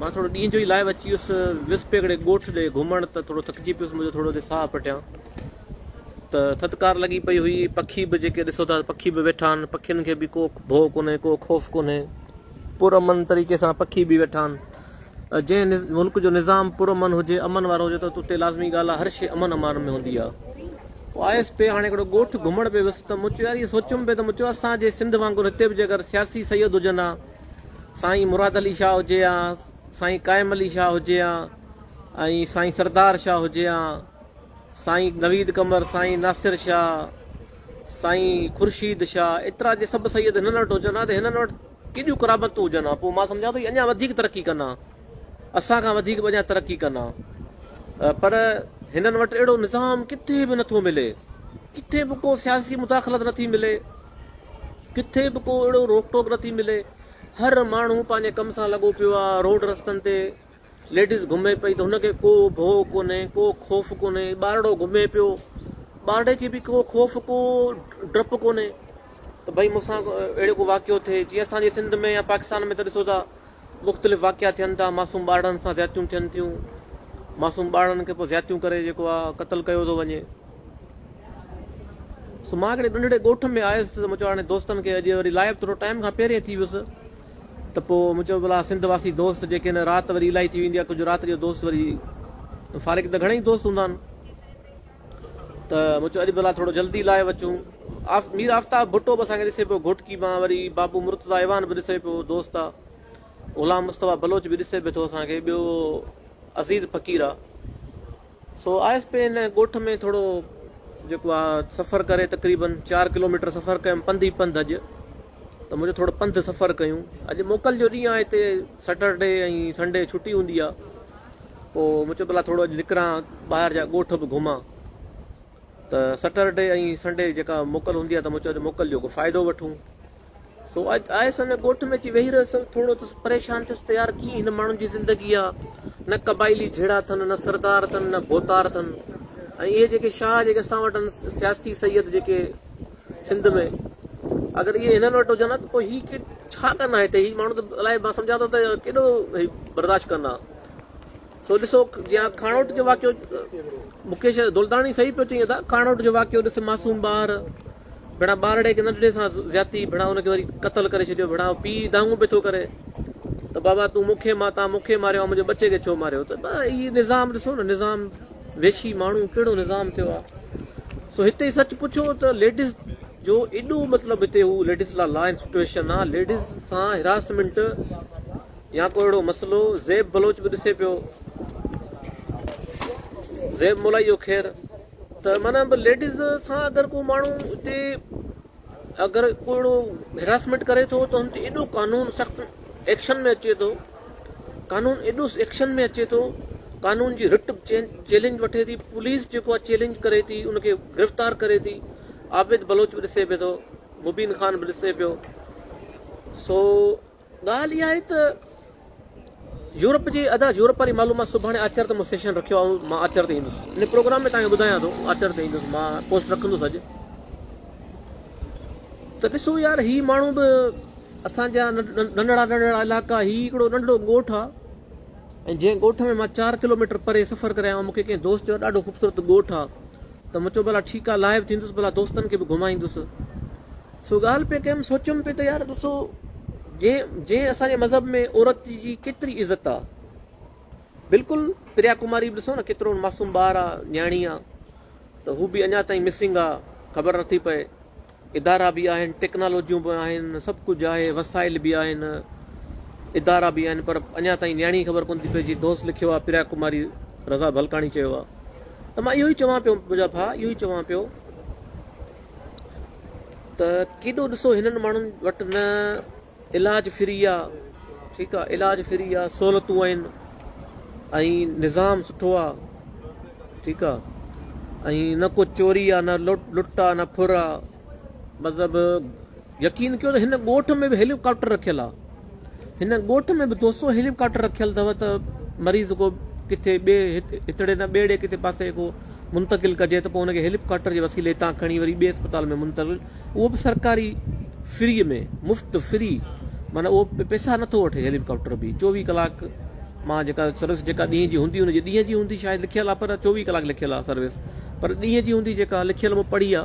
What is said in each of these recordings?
مان ٿورو ڏينهن جو ئي لائيو اچي ويس ويس پئي هڪڙي ڳوٺ ڏي گهمڻ ته ٿورو ٿڪجي پيس مون جو ٿورو ڏي ساهه پٽيان ته ٿڌڪار لڳي پئي هئي پکي به جيڪي ڏسو ٿا پکي به ويٺا آهن پکين کي به ڪو ڀو ڪونهي ڪو خوف ڪونهي پر امن طريقي سان پکي به ويٺا آهن جنهن ملڪ جو نظام پرامن هجي امن وارو هجي ته اتي لازمي ڳالهه هر شي امن امان ۾ هوندي آ پوء آيس پي هاڻي هڪڙو ڳوٺ گهمڻ پي ويس ته مون چيو يار سوچيم پي ته مون چيو اسان جي سنڌ وانگر هتي به جي اگر سياسي سيد هجن ها سائين مراد علي شاهه هجي ها سائين قائم علي شاهه هجي ها ۽ سائين سردار شاهه هجي ها سائين نويد قمر سائين ناصر شاهه سائين خورشيد شاهه ايترا جي سڀ سيد هنن وٽ هجن ها ته هنن وٽ ڪيڏيون قرابتون هجن ها پوء مان سمجهان ٿو اڃا وڌيڪ ترقي ڪن ها اسان کان وڌيڪ اڃا ترقي ڪن ها پر هنن وٽ اهڙو نظام ڪٿي به نٿو ملي ڪٿي به ڪو سياسي مداخلت نه ٿي ملي، ڪٿي به ڪو اهڙو روڪ ٽوڪ نه ٿي ملي، هر ماڻهو پنهنجي ڪم سان لڳو پيو آهي، روڊ رستن تي ليڊيز گهمي پئي ته هن کي ڪو ڀو ڪونهي، ڪو خوف ڪونهي، ٻارڙو گهمي پيو، ٻارڙي کي به ڪو خوف، ڪو ڊپ ڪونهي ته ڀئي مون سان اهڙو ڪو واقعو ٿئي، جيئن اسان جي سنڌ ۾ يا پاڪستان ۾ ته ڏسو ٿا مختلف واقعا ٿين ٿا، معصوم ٻارڙن سان زيادتيون ٿين ٿيون، معصوم ٻارڙن کي پوء زيادتيون ڪري جيڪو آ قتل ڪيو ٿو وڃي. سو مان هڪڙي ننڍڙي ڳوٺ ۾ آيس ته مون چيو هاڻي دوستن کي اڄ وري لائيو ٿورو ٽائيم کان پهرين ٿي ويس ته پوء مون چيو ڀلا سنڌ واسي دوست جيڪي هن رات وري الائي ٿي ويندي آ ڪجهه رات جو دوست وري فارغ ته گهڻي ئي دوست هوندا آهن. ته مون چيو اڄ ڀلا ٿورو جلدي لائي وچون. مير آفتاب ڀٽو به اسان کي ڏسي پيو، گهوٽڪي مان وري بابو مرتضيٰ ايوان به ڏسي پيو، دوست آ. غلام مصطفيٰ بلوچ به ڏسي پيو ٿو اسان کي، ٻيو عزيز فقير آ. سو آيس پئي هن ڳوٺ ۾ ٿورو جيڪو آ سفر ڪري تقريبن چار ڪلوميٽر سفر ڪيم پنڌ ئي پنڌ اڄ. ته منهنجو ٿورو پنڌ سفر ڪيون اڄ موڪل جو ڏينهن آهي هتي سيٽرڊي ۽ سنڊي ڇٽي هوندي آهي پوء مون چيو ڀلا ٿورو اڄ نڪران ٻاهر جا ڳوٺ به گهمان ته سيٽرڊي ۽ سنڊي جيڪا موڪل هوندي آهي ته مون چيو اڄ موڪل جو فائدو وٺون سو اڄ آيس ان ڳوٺ ۾ اچي ويهي رهيس ٿورو ته پريشان ٿيس ته يار ڪيئن هن ماڻهن جي زندگي آهي نه قبائلي جھيڙا اٿن نه سردار اٿن نه ڀوتار اٿن ۽ اهي جيڪي شاهه جيڪي اسان وٽ سياسي سيد جيڪي سنڌ ۾ اگر اهي هنن وٽ هجن ها ته پوء هي ڪيٽ ڇا ڪن ها هتي؟ هي ماڻهو ته الائي مان سمجهان ٿو ته ڪيڏو هي برداشت ڪن ها. سو ڏسو جيان کاڻوٽ جو واقعو مڪيش دولداڻي صحيح پيو چئين ادا کاڻوٽ جو واقعو ڏس معصوم ٻار ڀيڙا ٻارڙي کي ننڍڙي سان زيادتي ڀيڙا ان کي وري قتل ڪري ڇڏيو ڀيڙا پي دانگون پي ٿو ڪري ته بابا تون مونکي ماتا مونکي ماريو منهنجي ٻچي کي ڇو ماريو ته هي نظام ڏسو نه نظام وحشي ماڻهو ڪهڙو نظام ٿيو آ سو هتي سچ پڇو ته ليڊيز جو ايڏو مطلب هتي هو ليڊيز لا لائن سٽويشن آ ليڊيز سان هراسمنٽ يا ڪو اهڙو مسئلو زيب بلوچ به ڏسي پيو زيب مولائي جو خير ته معنی ليڊيز سان اگر ڪو ماڻهو هتي اگر ڪو اهڙو هراسمينٽ ڪري ٿو ته هن تي ايڏو قانون سخت ايڪشن ۾ اچي ٿو قانون ايڏو ايڪشن ۾ اچي ٿو قانون جي رٽ چيلنج وٺي ٿي پوليس جيڪو آ چيلنج ڪري ٿي ان کي گرفتار ڪري ٿي عابد بلوچ به ڏسي پيو ٿو مبين خان به ڏسي پيو سو ڳالهه اها آهي ته يورپ جي ادا يورپ واري معلومات سڀاڻي آچر تي مون سيشن رکيو آهي مان آچر تي ايندس ان پروگرام ۾ تان ٻڌايان ٿو آچر تي ايندس مان پوسٽ رکندس اڄ ته ڏسو يار هي ماڻهو به اسان جا ننڍڙا ننڍڙا علائقا هي هڪڙو ننڍڙو ڳوٺ آهي ۽ جنهن ڳوٺ ۾ مان چار ڪلوميٽر پري سفر ڪري آيو مونکي ڪنهن دوست چيو ڏاڍو خوبصورت ڳوٺ آهي ته مون چيو ڀلا ٺيڪ آهي لائيو ٿيندس ڀلا دوستن کي به گهمائيندس سو ڳالهه پئي ڪيم سوچيم پئي ته يار ڏسو جنهن اسان جي مذهب ۾ عورت جي ڪيتري عزت آ بلڪل پريا ڪماري به ڏسو نه ڪيترو معصوم ٻار آ نياڻي آ ته هو به اڃا تائين مسنگ آ خبر نٿي پئي ادارا به آهن ٽيڪنالوجيون به آهن سڀ ڪجهه آهي وسائل به آهن ادارا به آهن پر اڃا تائين نياڻي خبر ڪون ٿي پئي جي دوست لکيو آ پريا ڪماري رضا ڀلڪاڻي چيو آ ته مان اهو ئي چوان پيو منهنجا ڀا اهو ئي چوان پيو ته ڪيڏو ڏسو هنن ماڻهن وٽ نه علاج فري آ ٺيڪ آ علاج فري آ سهولتون آهن ۽ نظام سٺو آ ٺيڪ آ ۽ نه ڪو چوري آ نه لٽ آ نه ڦر آ مطلب يقين ڪيو ته هن ڳوٺ ۾ به هيلي ڪاپٽر رکيل آ هن ڳوٺ ۾ به دو سو هيلي ڪاپٽر رکيل اٿو ته مريض ڪو ڪٿي ٻي هتڙي نه ٻيڙي ڪٿي پاسي ڪو منتقل ڪجي ته پوء هن کي هيلي ڪاپٽر جي وسيلي تان کڻي وري ٻي اسپتال ۾ منتقل اهو به سرڪاري فري ۾ مفت فري معنی اهو پيسا نٿو وٺي هيلي ڪاپٽر به چوويهه ڪلاڪ مان جيڪا سروس جيڪا ڏينهن جي هوندي هن جي ڏينهن جي هوندي شايد لکيل آ پر چوويهه ڪلاڪ لکيل آ سروس پر ڏينهن جي هوندي جيڪا لکيل مون پڙهي آ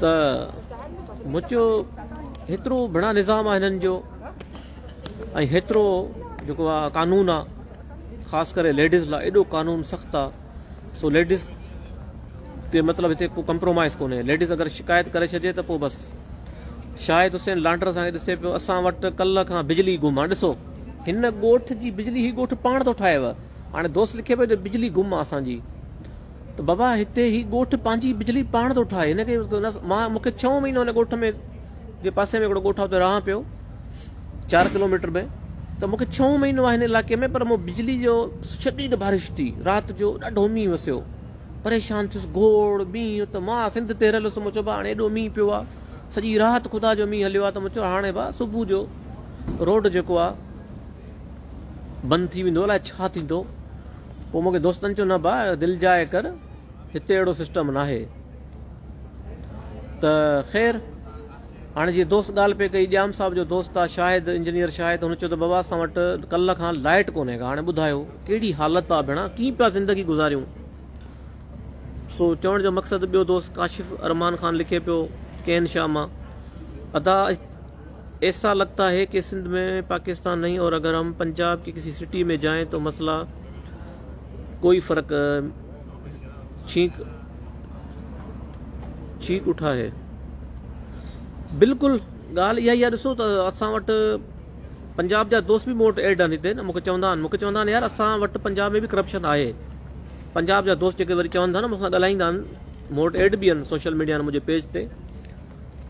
ته مچيو هيترو بنا نظام آ هنن جو ۽ هيترو جيڪو آ قانون آ خاص ڪري ليڊيز لا ايڏو قانون سخت آ سو ليڊيز تي مطلب هتي ڪو ڪمپرومائز ڪونهي ليڊيز اگر شڪايت ڪري ڇڏي ته پو بس شاهد حسين لانڊر سان ڏسي پيو اسان وٽ ڪل کان بجلي گم آ ڏسو هن ڳوٺ جي بجلي هي ڳوٺ پاڻ ٿو ٺاهيو هاڻي دوست لکي پيو جو بجلي گم آ اسان جي ته بابا هتي هي ڳوٺ پنهنجي بجلي پاڻ ٿو ٺاهي هن کي مان مون کي ڇهون مهينو هن ڳوٺ ۾ جي پاسي ۾ هڪڙو ڳوٺ آهي اتي رهان پيو چار ڪلوميٽر ۾ ته مون کي ڇهون مهينو آهي هن علائقي ۾ پر مون بجلي جو شديد بارش ٿي رات جو ڏاڍو مينهن وسيو پريشان ٿيس گوڙ مينهن ته مان سنڌ تي رهيل هوس مون چيو هاڻي ايڏو مينهن پيو آهي سڄي رات خدا جو مينهن هليو آهي ته مون چيو هاڻي با صبح جو روڊ جيڪو آهي بند ٿي ويندو الاء ڇا ٿيندو پوء مونکي دوستن چيو نه با دل جاء ڪر هتي اهڙو سسٽم ناهي ته خير هاڻي جي دوست ڳالهه پئي ڪئي ڄام صاحب جو دوست آ شاهد انجنيئر شاهد هن چيو ته بابا اسان وٽ ڪل کان لائٽ ڪونهي ڪا هاڻي ٻڌايو ڪهڙي حالت آ ڀيڻا ڪيئن پيا زندگي گذاريون سو چوڻ جو مقصد ٻيو دوست ڪاشف ارمان خان لکي پيو ڪين شاهه مان ادا ايسا لگتا هي ڪي سنڌ مين پاڪستان نهين اور اگر هم پنجاب ڪي ڪسي سٽي مين جاين تو مسلا ڪوئي فرق ڇينڪ ڇينڪ اٺا هي بلڪل ڳالهه اها ئي آهي ڏسو ته اسان وٽ پنجاب جا دوست به مون وٽ ايڊ آهن هتي نه مونکي چوندا آهن مونکي چوندا آهن يار اسان وٽ پنجاب ۾ به ڪرپشن آهي پنجاب جا دوست جيڪي وري چون ٿا نه مون سان ڳالهائيندا آهن مون وٽ ايڊ به آهن سوشل ميڊيا منهنجي پيج تي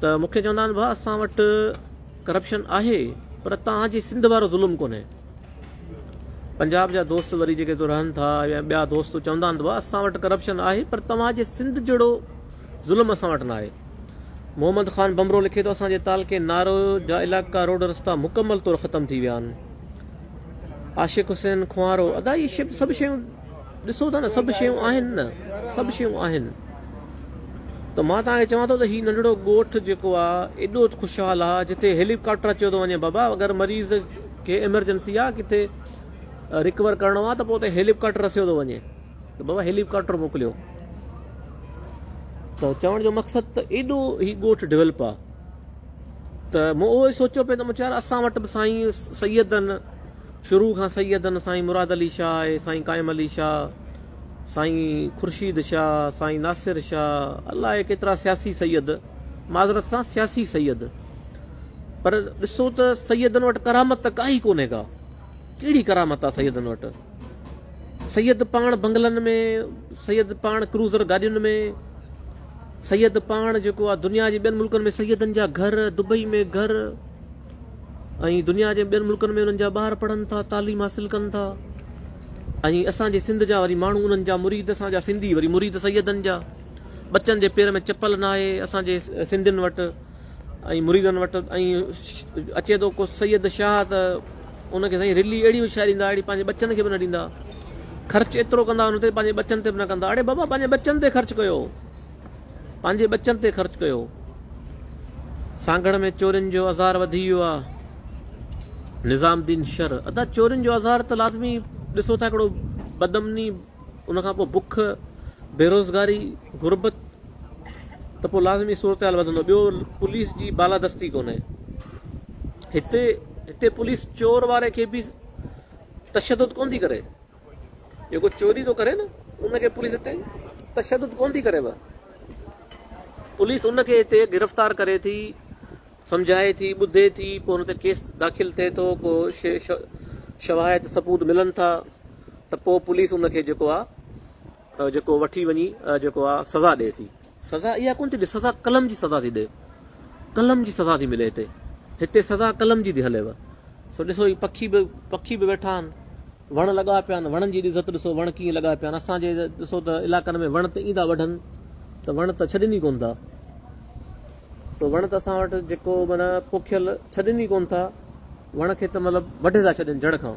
ته مون کي چوندا آهن ڀاء اسان وٽ ڪرپشن آهي پر توهان جي سنڌ وارو ظلم ڪونهي پنجاب جا دوست وري جيڪي تو رهن ٿا يا ٻيا دوست چوندا آهن ته ڀاء اسان وٽ ڪرپشن آهي پر توهان جي سنڌ جهڙو ظلم اسان وٽ ناهي محمد خان بمرو لکي ٿو اسان جي تعلقي نارو جا علاقا روڊ رستا مڪمل طور ختم ٿي ويا آهن عاشق حسين خوارو ادا هي سڀ شيون ڏسو ٿا نه سڀ شيون آهن نه سڀ شيون آهن ته مان توهان کي چوان ٿو ته هي ننڍڙو ڳوٺ جيڪو آهي ايڏو خوشحال آهي جتي هيليڪاپٽر اچيو ٿو وڃي بابا اگر مريض کي ايمرجنسي آهي ڪٿي رڪور ڪرڻو آهي ته پوء اتي هيليڪاپٽر رسيو ٿو وڃي ته بابا هيليڪاپٽر موڪليو ته چوڻ جو مقصد ته ايڏو هي ڳوٺ ڊيولپ آهي ته مون اهو ئي سوچيو پئي ته مون چيو اسان وٽ به سائين سيدن شروع کان سيدن سائين مراد علي شاهه، سائين قائم علي شاهه، سائين خورشيد شاهه، سائين ناصر شاهه الاء ڪيترا سياسي سيد، معذرت سان سياسي سيد، پر ڏسو ته سيدن وٽ ڪرامت ته ڪا ئي ڪونهي ڪا، ڪهڙي ڪرامت آ سيدن وٽ؟ سيد پاڻ بنگلن ۾، سيد پاڻ ڪروزر گاڏين ۾، سيد پاڻ جيڪو آ دنيا جي ٻين ملڪن ۾ سيدن جا گهر، دبئي ۾ گهر، ۽ دنيا جي ٻين ملڪن ۾ انهن جا ٻار پڙهن ٿا تعليم حاصل ڪن ٿا ۽ اسان جي سنڌ جا وري ماڻهو انهن جا مريد اسان جا سنڌي وري مريد سيدن جا ٻچن جي پير ۾ چپل نه آهي اسان جي سنڌين وٽ ۽ مريدن وٽ ۽ اچي ٿو ڪو سيد شاهه ته ان کي سائين رلي اهڙي هوشياري ڏيندا اهڙي پنهنجي ٻچن کي به نه ڏيندا خرچ ايترو ڪندا ان تي پنهنجي ٻچن تي به نه ڪندا اڙي بابا پنهنجي ٻچن تي خرچ ڪيو پنهنجي ٻچن تي خرچ ڪيو. سانگهڙ ۾ چورين جو اظهار وڌي ويو آ نظام الدين شر ادا چورين جو اظهار ته لازمي ڏسو ٿا ڪهڙو بدمني ان کان پوء بک بيروزگاري غربت ته پوء لازمي صورتحال وڌندو ٻيو پوليس جي بالادستي ڪونهي هتي هتي پوليس چور واري کي به تشدد ڪون ٿي ڪري جيڪو چوري ٿو ڪري نه ان کي پوليس اتي تشدد ڪون ٿي ڪريو پوليس ان کي اتي گرفتار ڪري ٿي سمجھائي ٿي ٻڌي ٿي پوء ان تي ڪيس داخل ٿئي ٿو پوء شواهد ثبوت ملن ٿا ته پوء پوليس ان کي جيڪو آ جيڪو وٺي وڃي جيڪو آ سزا ڏي ٿي سزا اها ڪونه ٿي ڏي سزا قلم جي سزا ٿي ڏي قلم جي سزا ٿي ملي هتي هتي سزا قلم جي ٿي هليو سو ڏسو هي پکي به پکي به ويٺا آهن وڻ لڳا پيا آهن وڻن جي عزت ڏسو وڻ ڪيئن لڳا پيا آهن اسانجي ڏسو ته علائقن ۾ وڻ ته ايندا وڍن ته وڻ ته ڇڏين ئي ڪون ٿا سو وڻ ته اسان وٽ جيڪو معنی پوکيل ڇڏين ئي ڪون ٿا وڻ کي ته مطلب وڍي ٿا ڇڏين جڙ کان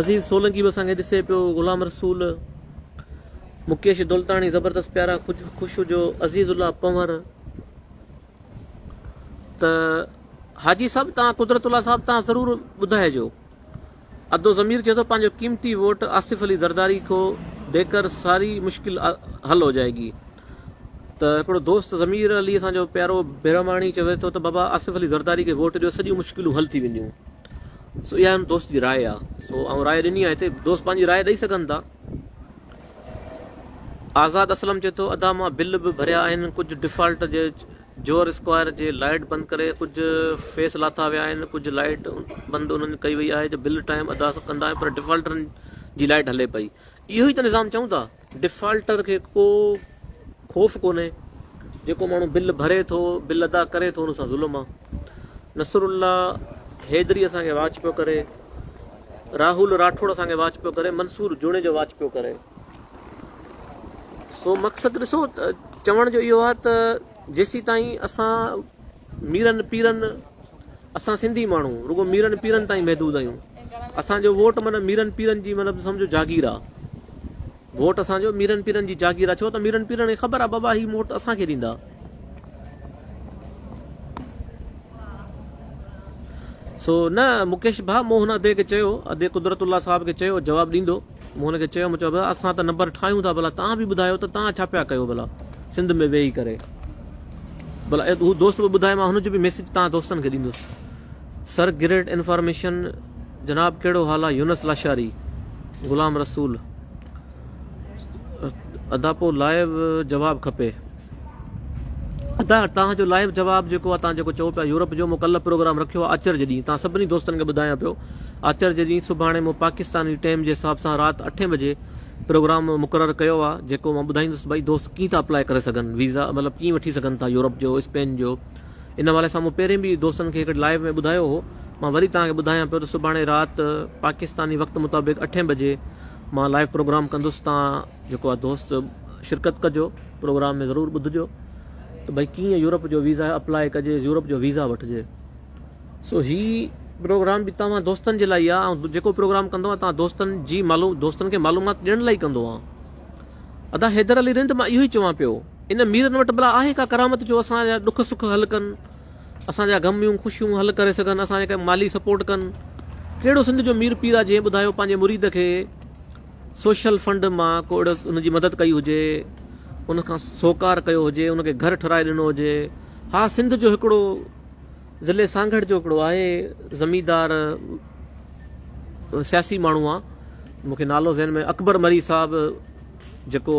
عزيز سولنگي به اسان کي ڏسي پيو، غلام رسول، مڪيش دولتاڻي، زبردست پيارا خوش هجو، عزيز الله پنور ته حاجي صاحب تان قدرت الله صاحب تان ضرور ٻڌائجو ادو ضمير چي ٿو پنهنجو قيمتي ووٽ آصف علي زرداري کو ڏي ڪر ساري مشڪل حل هو جائي گي ته هڪڙو دوست ضمير علي اسان جو پيارو برهماڻي چوي ٿو ته بابا آصف علي زرداري کي ووٽ ڏيو سڄيون مشڪلون حل ٿي وينديون سو اها هن دوست جي راء آهي سو آئون راء ڏني آهي هتي دوست پنهنجي راء ڏئي سگهن ٿا. آزاد اسلم چئي ٿو ادا مان بل به ڀريا آهن ڪجهه ڊفالٽ جي جوهر اسڪوائر جي لائيٽ بند ڪري ڪجهه فيس لاٿا ويا آهن ڪجهه لائيٽ بند انهن ڪئي وئي آهي جو بل ٽائيم ادا ڪندا آهيون پر ڊفالٽرن جي لائيٽ هلي پئي اهو ئي ته نظام چئون ٿا. ڊفالٽر کي ڪو خوف ڪونهي، جيڪو ماڻهو بل ڀري ٿو، بل ادا ڪري ٿو ان سان ظلم آ. نصرالله حيدري اسان کي واچ پيو ڪري، راهول راٺوڙ اسان کي واچ پيو ڪري، منصور جوڻيجو واچ پيو ڪري. سو مقصد ڏسو چوڻ جو اهو آ ته جيسيتائين اسان ميرن پيرن، اسان سنڌي ماڻهو رڳو ميرن پيرن تائين محدود آهيون. اسان جو ووٽ معنيٰ ميرن پيرن جي مطلب سمجهو جاگير آ. ووٽ اسان جو ميرن پيرن جي جاگير آ ڇو ته ميرن پيرن کي خبر آ بابا هي ووٽ اسان کي ڏيندا. سو نه مڪيش ڀاء مون هن ادي کي چيو ادي قدرت الله صاحب کي چيو جواب ڏيندو. مون هن کي چيو، مون چيو، ڀلا اسان ته نمبر ٺاهيون ٿا، ڀلا توهان به ٻڌايو ته توهان ڇا پيا ڪيو ڀلا سنڌ ۾ ويهي ڪري؟ ڀلا هو دوست به ٻڌائي، مان هن جو به ميسيج توهان دوستن کي ڏيندس. سر گريٽ انفارميشن جناب ڪهڙو حال آ يونس لاشاري غلام رسول ادا پو لائيو جواب کپي. ادا توهان جو لائيو جواب جيڪو آ توهان جيڪو چئو پيا يورپ جو مون ڪلهه پروگرام رکيو آ آچر جي ڏينهن توهان سڀني دوستن کي ٻڌايان پيو آچر جي ڏينهن سڀاڻي مون پاڪستاني ٽيم جي حساب سان رات اٺين بجي پروگرام مقرر ڪيو آ جيڪو مان ٻڌائيندس ته ڀائي دوست ڪيئن ٿا اپلائي ڪري سگهن ويزا مطلب ڪيئن وٺي سگهن ٿا يورپ جو اسپين جو ان حوالي سان مون پهرين به دوستن کي هڪڙي لائيو ۾ ٻڌايو هو مان وري توهان کي ٻڌايان پيو ته سڀاڻي رات پاڪستاني وقت مطابق اٺين بجي مان لائيو پروگرام ڪندس توهان جيڪو آ دوست شرڪت ڪجو پروگرام ۾ ضرور ٻڌجو ته ڀئي ڪيئن يورپ جو ويزا اپلائي ڪجي يورپ جو ويزا وٺجي سو هي پروگرام به توهان دوستن جي لاء آ ۽ جيڪو پروگرام ڪندو آ توهان دوستن جي معلوم دوستن کي معلومات ڏيڻ لاء ڪندو آ ادا حيدر علي رند مان اهو ئي چوان پيو ان ميرن وٽ بلا آهي ڪا ڪرامت جو اسان جا ڏک سک حل ڪن اسان جا غميون خوشيون حل ڪري سگهن اسان کي مالي سپورٽ ڪن ڪهڙو سنڌ جو مير پير آ جنهن ٻڌايو پنهنجي مريد کي سوشل فنڊ مان ڪو اهڙو ان جي مدد ڪئي هجي ان کان سوڪار ڪيو هجي ان کي گهر ٺهرائي ڏنو هجي ها سنڌ جو هڪڙو ضلع سانگهڙ جو هڪڙو آهي زميندار سياسي ماڻهو آ مونکي نالو ذهن ۾ اڪبر مري صاحب جيڪو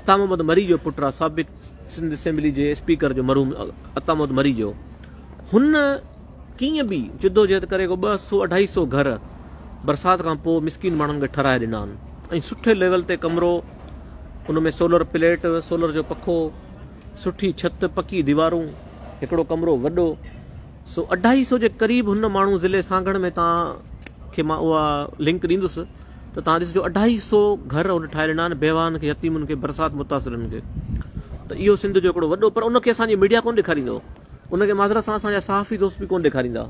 عطا محمد مري جو پٽ آ سابق سنڌ اسيمبلي جي اسپيڪر جو مرحوم عطا محمد مري جو هن ڪيئن به جدوجهد ڪري ڪو ٻه سؤ اڍائي سؤ گهر برسات کان پوء مسڪين ماڻهن کي ٺهرائي ڏنا آهن ۽ سٺي ليول تي ڪمرو ان ۾ سولر پليٽ سولر جو پکو سٺي ڇت پڪي ديوارون هڪڙو ڪمرو وڏو سو اڍائي سؤ جي قريب هن ماڻهو ضلعي سانگهڙ ۾ تان کي مان اها لنڪ ڏيندس ته تان ڏسجو اڍائي سؤ گهر هن ٺاهي ڏنا آهن بيواهن کي يتيمن کي برسات متاثرن کي ته اهو سنڌ جو هڪڙو وڏو پر ان کي اسان جي ميڊيا ڪونه ڏيکاريندو ان کي معذرت سان اسان جا صحافي دوست به ڪونه ڏيکاريندا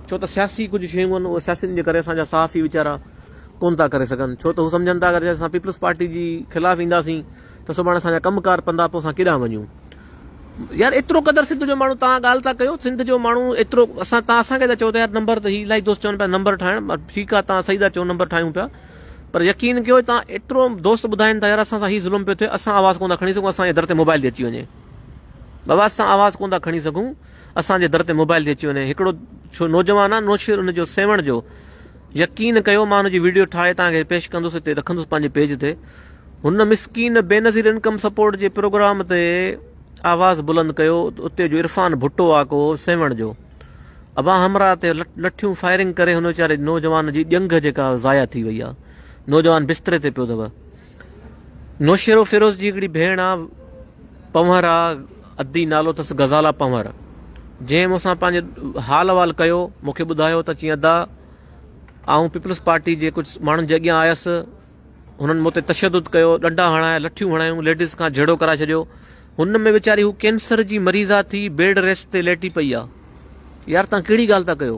ڇو ته سياسي ڪجهه شيون آهن اهي سياسين جي ڪري اسان جا صحافي ويچارا ڪونه ٿا ڪري سگهن ڇو ته هو سمجهن ٿا اگر اسان پيپلز پارٽي جي خلاف اينداسين ته سڀاڻي اسان جا ڪم ڪار پندا پوء اسان ڪيڏانهن وڃون يار ايترو قدر سنڌ جو ماڻهو تان ڳالهه ٿا ڪيو سنڌ جو ماڻهو ايترو اسان تان اسان کي ٿا چئو ته يار نمبر ته هي الاهي دوست چون پيا نمبر ٺاهڻ ٺيڪ آهي تان صحيح ٿا چئو نمبر ٺاهيون پيا پر يقين ڪيو تان ايترو دوست ٻڌائين ٿا يار اسان سان هي ظلم پيو ٿئي اسان آواز ڪونه ٿا کڻي سگهون اسان جي در تي موبائل ٿي اچي وڃي بابا اسان آواز ڪون ٿا کڻي سگهون اسان جي در تي موبائل ٿي اچي وڃي هڪڙو ڇو نوجوان آ نوشير ان جو سيوڻ جو يقين ڪيو مان ان جي ويڊيو ٺاهي تان کي پيش ڪندس هتي رکندس پنهنجي پيج تي هن مسڪين بينظير انڪم سپورٽ جي پروگرام تي آواز بلند ڪيو اتي جو عرفان ڀٽو آ ڪو سيوڻ جو ابا همرا تي لٺيون فائرنگ ڪري هن ويچاري نوجوان جي ڄنگهه جيڪا ضايع ٿي وئي آ نوجوان بستري تي پيو اٿو نوشهرو فيروز جي هڪڙي ڀيڻ آ پنور آ ادي نالو تس غزالا پنور جنهن مون سان پنهنجي حال احوال ڪيو مون کي ٻڌايو ته چيئن ادا آئون پيپلز پارٽي جي ڪجهه ماڻهن جي اڳيان آيس هنن مون تي تشدد ڪيو ڏنڊا هڻايا لٺيون هڻايون ليڊيز کان جهيڙو ڪرائي ڇڏيو هن ۾ ويچاري هو ڪينسر جي مريض آ ٿي بيڊ ريسٽ تي ليٽي پئي آ يار تان ڪهڙي ڳالهه ٿا ڪيو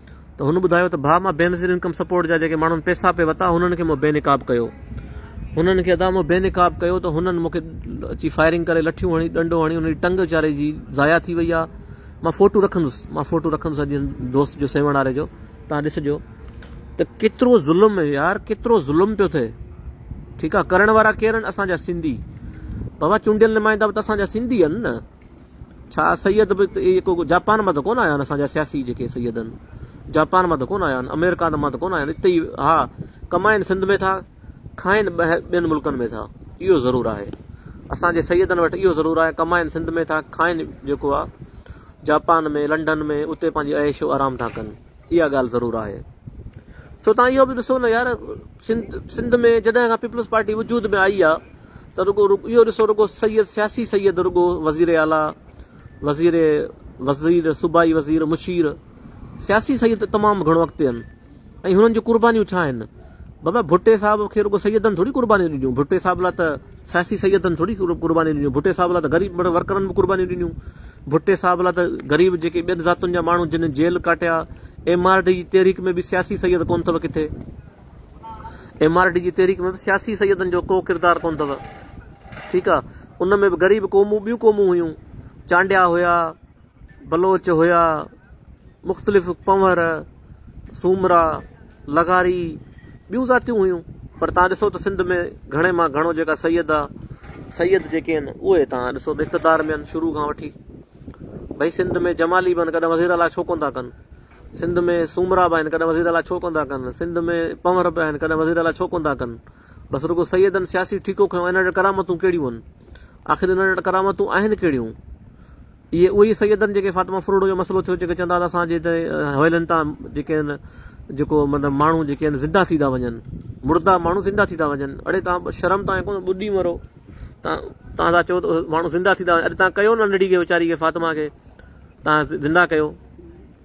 ته هن ٻڌايو ته ڀاء مان بينظير انڪم سپورٽ جا جيڪي ماڻهن پيسا پي وتا هنن کي مون بي نقاب ڪيو هنن کي ادا مون بي نقاب ڪيو ته هنن مونکي اچي فائرنگ ڪري لٺيون هڻي ڏنڊو هڻي انهي ٽنگ ويچاري جي ضايع ٿي وئي آ مان فوٽو رکندس مان فوٽو رکندس اڄ دوست جو سيوڻ واري جو تان ڏسجو ته ڪيترو ظلم يار ڪيترو ظلم پيو ٿئي ٺيڪ آ ڪرڻ وارا ڪيرن اسان جا سنڌي بابا چونڊيل نمائندا به ته اسان جا سنڌي آهن نه ڇا سيد به ته اهي ڪو جاپان مان ته ڪونه آيا آهن اسان جا سياسي جيڪي سيد آهن جاپان مان ته ڪونه آيا آهن امريڪا مان ته ڪونه آيا آهن اتي ئي ها ڪمائن سنڌ ۾ ٿا کائن ٻين ملڪن ۾ ٿا اهو ضرور آهي اسان جي سيدن وٽ اهو ضرور آهي ڪمائن سنڌ ۾ ٿا کائن جيڪو آهي جاپان ۾ لنڊن ۾ اتي پنهنجي عيش و آرام ٿا ڪن اها ڳالهه ضرور آهي. سو توهان اهو به ڏسو نه يار سنڌ ۾ جڏهن کان پيپلز پارٽي وجود ۾ آئي آ ته رڳو اهو ڏسو رڳو سيد سياسي سيد رڳو وزير اعليٰ وزير وزير صوبائي وزير مشير سياسي سيد تمام گهڻو اڳتي آهن ۽ هنن جون قربانيون ڇا آهن بابا ڀٽي صاحب کي رڳو سيدن ٿوري قربانيون ڏنيون ڀٽي صاحب لاء ته سياسي سيدن ٿوري قربانيون ڏنيون، ڀٽي صاحب لاء ته غريب مڙهه ورڪرن به قربانيون ڏنيون. ڀٽي صاحب لاء ته غريب جيڪي ٻين ذاتن جا ماڻهو جن جيل ڪاٽيا، ايم آر ڊي جي تحريڪ ۾ به سياسي سيد ڪونه اٿو ڪٿي. ايم آر ڊي جي تحريڪ ۾ به سياسي سيدن جو ڪو ڪردار ڪونه اٿو. ٺيڪ آ. ان ۾ به غريب قومون ٻيون قومون هيون. چانڊيا هيا. بلوچ هيا، مختلف پنهور، سومرا، لغاري، ٻيون ذاتيون هيون، پر توهان ڏسو ته سنڌ ۾ گهڻي مان گهڻو جيڪا سيد آ، سيد جيڪي آهن اهي توهان ڏسو ته اقتدار ۾ آهن شروع کان وٺي، ڀئي سنڌ ۾ جمالي به آهن ڪڏهن وزير اعليٰ ڇو ڪونه ٿا ڪن، سنڌ ۾ سومرا به آهن ڪڏهن وزير اعليٰ ڇو ڪونه ٿا ڪن، سنڌ ۾ پنهور به آهن ڪڏهن وزير اعليٰ ڇو ڪونه ٿا ڪن، بس رڳو سيدن سياسي ٺيڪو کنيو، انهن وٽ ڪرامتون ڪهڙيون آهن، آخر انهن وٽ ڪرامتون آهن ڪهڙيون؟ اهي اهي سيد آهن جيڪي فاطمه فروڙو جو مسئلو ٿيو جيڪي چوندا ته اسان جي هتي حويلين تان جيڪي آهن جيڪو مطلب ماڻهو جيڪي آهن زنده ٿي ٿا وڃن مردا ماڻهو زنده ٿي ٿا وڃن اڙي تان شرم تان ڪون ٻڏي مرو تان تان ٿا چئو ته ماڻهو زنده ٿي ٿا وڃن اڄ تان ڪيو ننڍڙي کي ويچاري کي فاطمه کي تان زنده ڪيو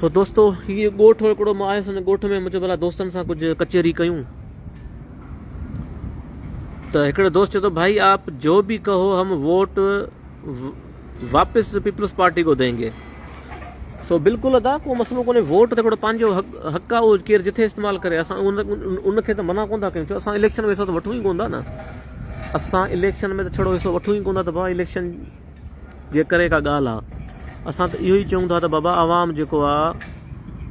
سو دوستو هي ڳوٺ هڪڙو مان آيس ان ڳوٺ ۾ منهنجو ڀلا دوستن سان ڪجهه ڪچهري ڪيون ته هڪڙو دوست چيو ته ڀائي آپ جو به ڪهو هم ووٽ واپس پيپلز پارٽي کو دينگي سو بلڪل ادا ڪو مسئلو ڪونهي ووٽ ته هڪڙو پنهنجو حق آ اهو ڪير جٿي استعمال ڪري اسان ان کي ته منع ڪون ٿا ڪيون ڇو اسان اليڪشن ۾ حصو ته وٺون ئي ڪون ٿا نه اسان اليڪشن ۾ ته ڇڙو حصو وٺون ئي ڪون ٿا ته ڀاء اليڪشن جيڪڏهن ڪا ڳالهه آ اسان ته اهو ئي چئون ٿا ته بابا عوام جيڪو آ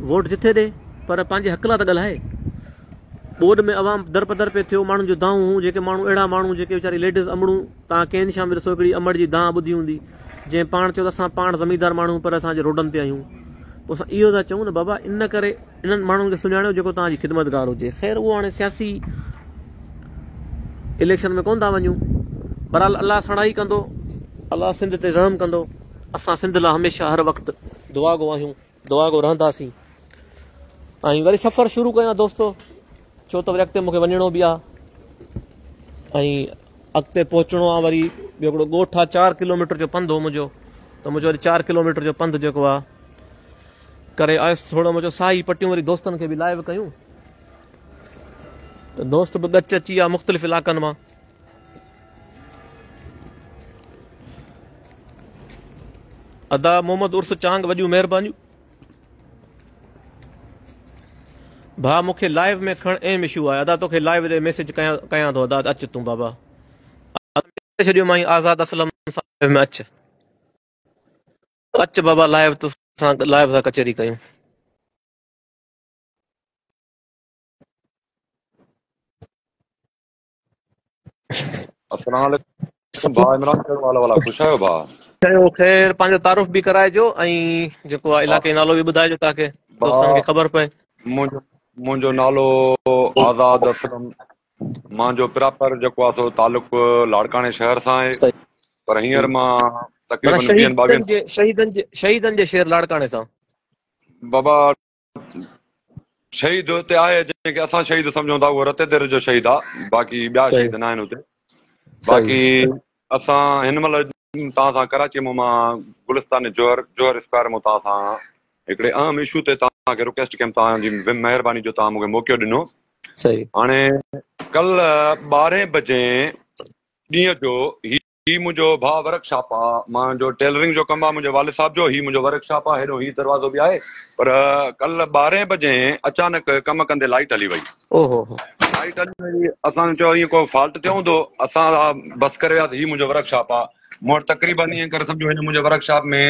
ووٽ جتي ڏي پر پنهنجي حق لا ته ڳالهائي ٻوڏ ۾ عوام در پدر پي ٿيو ماڻهن جو دانهون هون جيڪي ماڻهو اهڙا ماڻهو جيڪي ويچاري ليڊيز امڙون تان ڪين شام ڏسو هڪڙي امڙ جي دانهن ٻڌي هوندي جنهن پاڻ چيو ته اسان پاڻ زميندار ماڻهو پر اسان جي روڊن تي آهيون پوء اسان اهو ٿا چئون نه بابا ان ڪري انهن ماڻهن کي سڃاڻيو جيڪو توهان جي خدمتگار هجي. خير اهو هاڻي سياسي اليڪشن ۾ ڪونه ٿا وڃون. بهرحال الله سڻائي ڪندو. الله سنڌ تي رحم ڪندو. اسان سنڌ لاء هميشه هر وقت دعا گو آهيون. دعا گو رهنداسين. ۽ وري سفر شروع ڪيان دوستو. ڇو ته وري اڳتي مونکي وڃڻو به آهي. ۽ اڳتي پهچڻو آ وري ٻيو هڪڙو ڳوٺ آ چار ڪلوميٽر جو پنڌ هو منهنجو ته منهنجو وري چار ڪلوميٽر جو پنڌ جيڪو آ ڪري آيس ٿورو منهنجو ساهي پٽيون وري دوستن کي به لائيو ڪيون ته دوست به ڳچ اچي ويا مختلف علاقن مان ادا محمد عرس چانگ وڏيون مهربانيون ڀاء مونکي لائيو ۾ کڻ ايم اشو آهي ادا توکي لائيو جي ميسج ڪيان ٿو ادا اچ تون بابا ادا ڇڏيو مائين آزاد اسلم سان لائيو ۾ اچ اچ بابا لائيو تو سان لائيو سان ڪچهري ڪيون اسلام عليڪم ڀاء عمران ڪهڙو حال والا خوش آهيو ڀاء چيو خير پنهنجو تعارف به ڪرائجو ۽ جيڪو آ علاقي نالو به ٻڌائجو تاڪي دوستن کي خبر پئي منهنجو منهنجو نالو آزاد اسلم مان جو پراپر جيڪو آ سو تعلق لاڙڪاڻي شهر سان آهي پر هينئر مان تقريبن 20 22 شهيدن جي شهيدن جي شهر لاڙڪاڻي سان بابا شهيد اتي آهي جنهن کي اسان شهيد سمجهون ٿا اهو رتي دير جو شهيد آهي باقي ٻيا شهيد ناهن اتي باقي اسان هن مهل توهان سان ڪراچي مان مان گلستان جوهر جوهر اسڪوائر مان توهان سان هڪڙي اهم ايشو تي توهان کي رڪويسٽ ڪيم توهان جي مهرباني جو توهان مونکي موقعو ڏنو صحيح هاڻي ڪل 12 بجي ڏينهن جو هي منهنجو ڀاء ورڪ شاپ آ مان جو ٽيلرنگ جو ڪم آ منهنجي والد صاحب جو هي منهنجو ورڪ شاپ آ هيڏو هي دروازو به آهي پر ڪل ٻارهين بجي اچانڪ ڪم ڪندي لائيٽ هلي وئي اوهوهو لائيٽ هلي وئي اسان چيو ائين ڪو فالٽ ٿيو هوندو اسان بس ڪري وياسي هي منهنجو ورڪ شاپ آ مون وٽ تقريبن ائين ڪري سمجهو هن منهنجي ورڪ شاپ ۾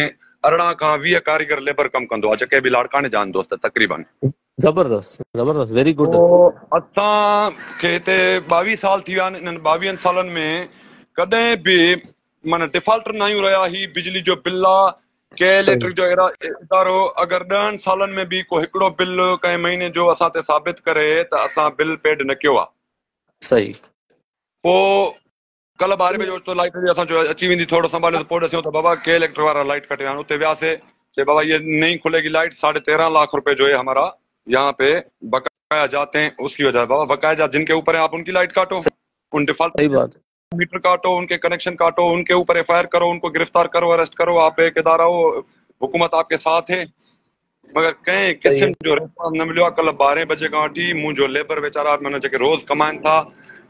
ارڙهن کان ويهه ڪاريگر ليبر ڪم ڪندو آ جيڪي به لاڙڪاڻي جا آهن دوست تقريبن زبردست زبردست ويري گڊ. پوء اسان کي هتي ٻاويهه سال ٿي ويا آهن انهن ٻاويهن سالن ۾ ڪڏهن به معنيٰ ڊفالٽر ناهيون رهيا هي بجلي جو بل آ ڪي صحيح اليڪٽرڪ جو ادارو اگر ڏهن سالن ۾ به ڪو هڪڙو بل ڪنهن مهيني جو اسان تي ثابت ڪري ته اسان بل پيڊ نه ڪيو آ صحيح پوء ڪلهه ٻارهين بجي اوچتو لائيٽ جي اسان چيو اچي ويندي ٿورڙو سنڀاليو ته پوء ڏسيون ته بابا ڪي اليڪٽر وارا لائيٽ ڪٽي ويا آهن اتي وياسي چي بابا هيء نئين کلي گي لائيٽ ساڍي تيرهن لاک روپي جو هي همارا يهان پي بقايا جاتي هين اس ڪي وجهه هي بابا بقايا جات جن ڪي اوپر هين آپ ان ڪي لائيٽ ڪاٽو ان ڊفالٽ صحيح بات ميٽر ڪاٽو ان ڪي ڪنيڪشن ڪاٽو ان ڪي اوپر ايف آئي آر ڪرو ان ڪو گرفتار ڪرو اريسٽ ڪرو آپ ايڪ ادارا هو حڪومت آپ ڪي ساٿ هي مگر ڪنهن قسم جو ريسپانس نه مليو آهي ڪلهه ٻارهين بجي کان وٺي منهنجو ليبر ويچارا معنيٰ جيڪي روز ڪمائن ٿا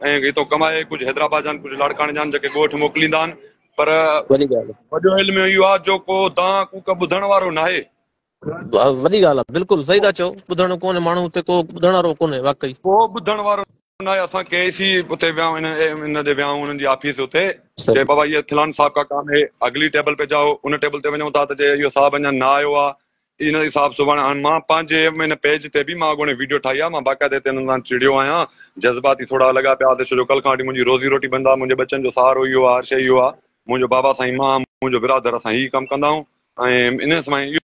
۽ هتو ڪمائي ڪجهه حيدرآباد جان ڪجهه لاڙڪاڻي جان جيڪي ڳوٺ موڪليندا آهن پر وڏي ڳالهه وڏو علم اهو آهي جو ڪو دان ڪوڪ ٻڌڻ وارو ناهي وڏي ڳالهه آهي بلڪل صحيح ٿا چئو ٻڌڻ ڪونهي ماڻهو هتي ڪو ٻڌڻ وارو ڪونهي واقعي ڪو ٻڌڻ وارو نه آيا اسان ڪي سي اتي ويا ان ان ڏي ويا انهن جي آفيس اتي چي بابا هي فلان صاحب ڪا ڪام هي اگلي ٽيبل پي جاؤ ان ٽيبل تي وڃون ٿا ته جي اهو صاحب اڃا نه آيو آ ان جي صاحب سبحان هاڻ مان پنهنجي ان پيج تي به مان اڳوڻي ويڊيو ٺاهي آ مان باقاعده هتي انهن سان چڙيو آهيان جذباتي ٿورا لڳا پيا آسي ڇو جو ڪل کان وٺي منهنجي روزي روٽي بند آ منهنجي ٻچن جو سهارو اهو آ هر شيء اهو آ منهنجو بابا سائين مان منهنجو برادر اسان هي ڪم ڪندائون ۽ انهن سماء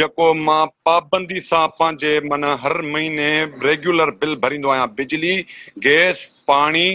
جيڪو مان پابندي سان پنهنجي من هر مهيني ريگيولر بل ڀريندو آهيان بجلي، گئس، پاڻي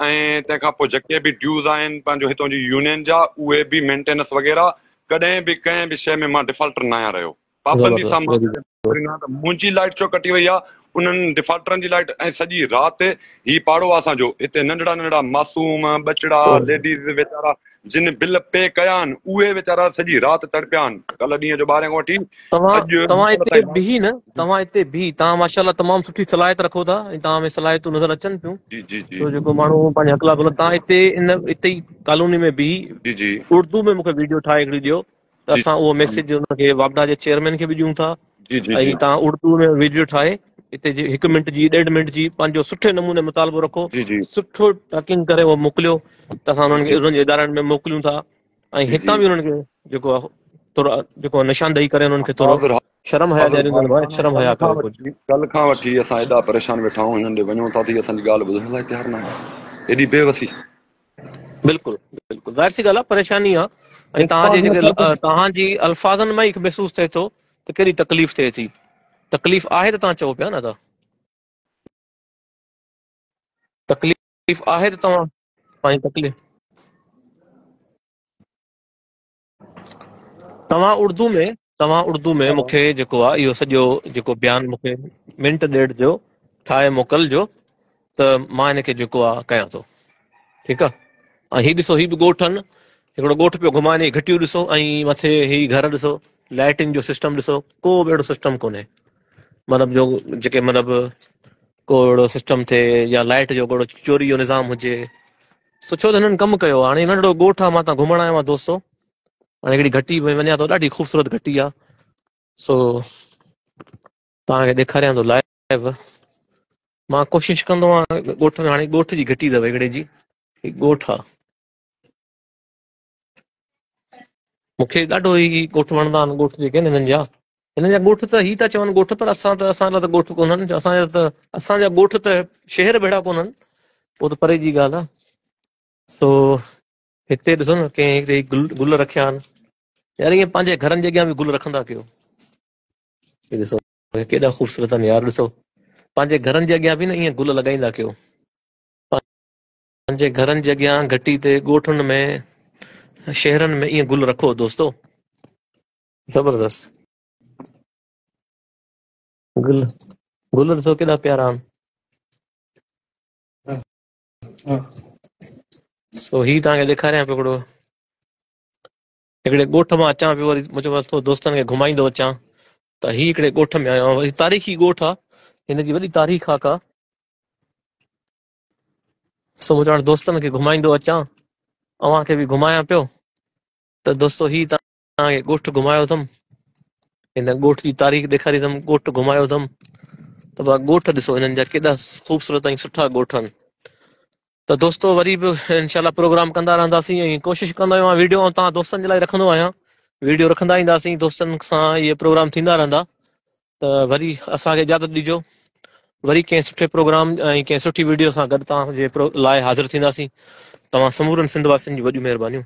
۽ تنهن کان پوء جيڪي به ڊيوز آهن پنهنجو هتون جي يونين جا اهي به مينٽينس وغيره ڪڏهن به ڪنهن به شيء ۾ مان ڊفالٽر ناهيان رهيو پابندي سان مان منهنجي لائٽ ڇو ڪٽي وئي آهي انهن ڊفالٽرن جي لائٽ ۽ سڄي رات هي پاڙو آ اسان جو، هتي ننڍڙا ننڍڙا معصوم، ٻچڙا، ليڊيز ويچارا جن بل پي ڪيا آهن، اهي ويچارا سڄي رات تڙپيا آهن، ڪلهه ڏينهن جو ٻارهين کان وٺي توهان اڄ توهان مغرب اتي تائين لائٽ بيهي نه جي توهان اتي بيهي توهان ماشاءالله تمام سٺي صلاحيت رکو ٿا ۽ توهان ۾ صلاحيتون نظر اچن ٿيون جي جي جي سو جيڪو ماڻهو پنهنجا حق لاء گهلن توهان اتي ان اتي ئي ڪالوني ۾ بيهي جي جي اردو ۾ مونکي ويڊيو ٺاهي هڪڙي ڏيو ته اسان اهو ميسيج ان کي واپڊا جي چيئرمين کي به ڏيون ٿا ۽ تان اردو ۾ ويڊيو ٺاهي اتي جي هڪ منٽ جي ڏيڍ منٽ جي پنهنجو سٺي نموني مطالبو رکو سٺو ٽاڪنگ ڪري اهو موڪليو ته اسان انهن کي انهن جي ادارن ۾ موڪليون ٿا ۽ هتان به انهن کي جيڪو ٿورو جيڪو نشاندهي ڪري انهن کي ٿورو شرم حيا ڏياريون ٿا ڀاء شرم حيا ڪريو ڪجهه ڪل کان وٺي اسان ايڏا پريشان ويٺا آهيون هنن ڏي وڃون ٿا ته هي اسان جي ڳالهه ٻڌڻ لاء تيار ناهن ايڏي بي وسي بلڪل بلڪل ظاهر سي ڳالهه آ پريشاني آ ۽ توهان جي جيڪي توهان جي الفاظن مان ئي محسوس ٿئي ٿو ته ڪيڏي تڪليف ٿئي ٿي تڪليف آهي ته توهان چئو پيا نه ته تڪليف آهي ته توهان پنهنجي تڪليف توهان اردو ۾ توهان اردو ۾ مون کي جيڪو آ اهو سڄو جيڪو بيان مون کي منٽ ڏيڍ جو ٺاهي موڪل جو ته مان ان کي جيڪو آ ڪيان ٿو ٺيڪ آ ۽ هي ڏسو هي به ڳوٺ آهن هڪڙو ڳوٺ پيو گهمائين هي گهٽيون ڏسو ۽ مٿي هي گهر ڏسو لائٽنگ جو سسٽم ڏسو ڪو به اهڙو سسٽم ڪونهي مطلب جو جيڪي مطلب ڪو اهڙو سسٽم ٿئي يا لائٽ جو ڪهڙو چوري جو نظام هجي سٺو ته هنن ڪم ڪيو آ هاڻي ننڍڙو ڳوٺ آ مان تان گهمڻ آيو آهيان دوستو هاڻي هڪڙي گهٽي ۾ وڃان ٿو ڏاڍي خوبصورت گهٽي آ سو تان کي ڏيکاريان ٿو لائيو مان ڪوشش ڪندو آهيان ڳوٺ ۾ هاڻي ڳوٺ جي گهٽي اٿو هڪڙي جي ڳوٺ آ مون کي ڏاڍو هي ڳوٺ وڻندا آهن ڳوٺ جيڪي آهن هنن جا هنن جا ڳوٺ ته هي ٿا چون ڳوٺ پر اسان ته اسان لاء ته ڳوٺ ڪونهن اسان جا ته اسان جا ڳوٺ ته شهر ڀيڙا ڪونهن پوء ته پري جي ڳالهه آهي سو هتي ڏسو نه ڪنهن هتي گل گل رکيا آهن يار ائين پنهنجي گهرن جي اڳيان به گل رکندا ڪيو ڏسو ڪيڏا خوبصورت آهن يار ڏسو پنهنجي گهرن جي اڳيان به نه ائين گل لڳائيندا ڪيو پنهنجي گهرن جي اڳيان گهٽي تي ڳوٺن ۾ شهرن ۾ ائين گل رکو دوستو زبردست گل گل ڏسو ڪيڏا پيارا آهن سو هي تان کي ڏيکاريان پيو هڪڙو هڪڙي ڳوٺ مان اچان پيو وري مون چيو ٿو دوستن کي گهمائيندو اچان ته هي هڪڙي ڳوٺ ۾ آيو آهيان وري تاريخي ڳوٺ آهي هن جي وڏي تاريخ آ ڪا سو مون چيو دوستن کي گهمائيندو اچان اوهان کي به گهمايان پيو ته دوستو هي توهان کي ڳوٺ گهمايو اٿم هن ڳوٺ جي تاريخ ڏيکاري اٿم ڳوٺ گهمايو اٿم ته وا ڳوٺ ڏسو هنن جا ڪيڏا خوبصورت ۽ سٺا ڳوٺ آهن ته دوستو وري به انشاءالله پروگرام ڪندا رهنداسين ۽ ڪوشش ڪندو آهيان ويڊيو آن توهان دوستن جي لاء رکندو آهيان ويڊيو رکندا اينداسين دوستن سان اهي پروگرام ٿيندا رهندا ته وري اسان کي اجازت ڏجو وري ڪنهن سٺي پروگرام ۽ ڪنهن سٺي ويڊيو سان گڏ توهان جي لاء حاضر ٿينداسين توهان سمورن سنڌ واسين جون وڏيون مهربانيون